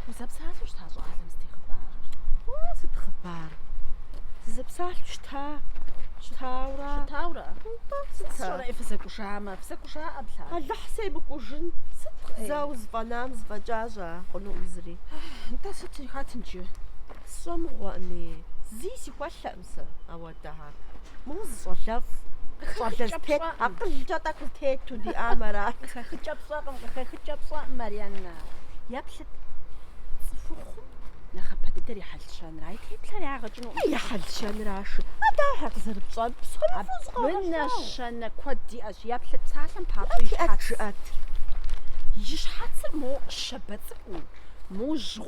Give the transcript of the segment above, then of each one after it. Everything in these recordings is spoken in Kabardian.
Узэпсалъэу щыта щӏалэм сыт и хъыбарыр? Сыт хъыбар? Сызэпсалъэу щыта? Щытаура? Щытаура? Сыт сщӏэрэ ӏей фызэкӏужамэ? Фызэкӏужа ӏэблэ? Алыхь семыкӏужын. Сыт зэ узыфӏэнам зыфӏэкӏа щӏа? Хъунукъым зыри. Нтӏэ сыт жыхатынджы? Сщӏэмыгъуэӏыми. Зи сихуэлъэ. сэ ауэдагъэ. Моу зы щӏалэфӏ. Щӏалэфӏ тет, акъылкӏэ тӏэкӏу тету диӏам арат. Къыхэхыкӏэ пщӏэкъым, къыхэхыкӏэ пщӏэ, Марьянна. Еплъыт. Цӏыхухъум нэхъапэ дыдэр и хьэлщэнра. И теплъэр ягъэкӏыну. И хьэлщэнращи. Адахьэ къызэрыпщӏэр псори фӏэзгъэгъэщӏау. Абы нэщэнэ куэд диӏэщ. Еплъыт псалъэм папщӏэ и щхьэц. Жыӏэт. И щхьэцыр мо щэбэцӏыкӏуу, мо жьгъу.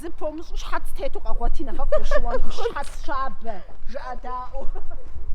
Зы помыщӏу щхьэц тету къэгъуэти нэхъыфӏ ущыуэнкъым, щхьэц щабэ, жыӏэдаӏуэу.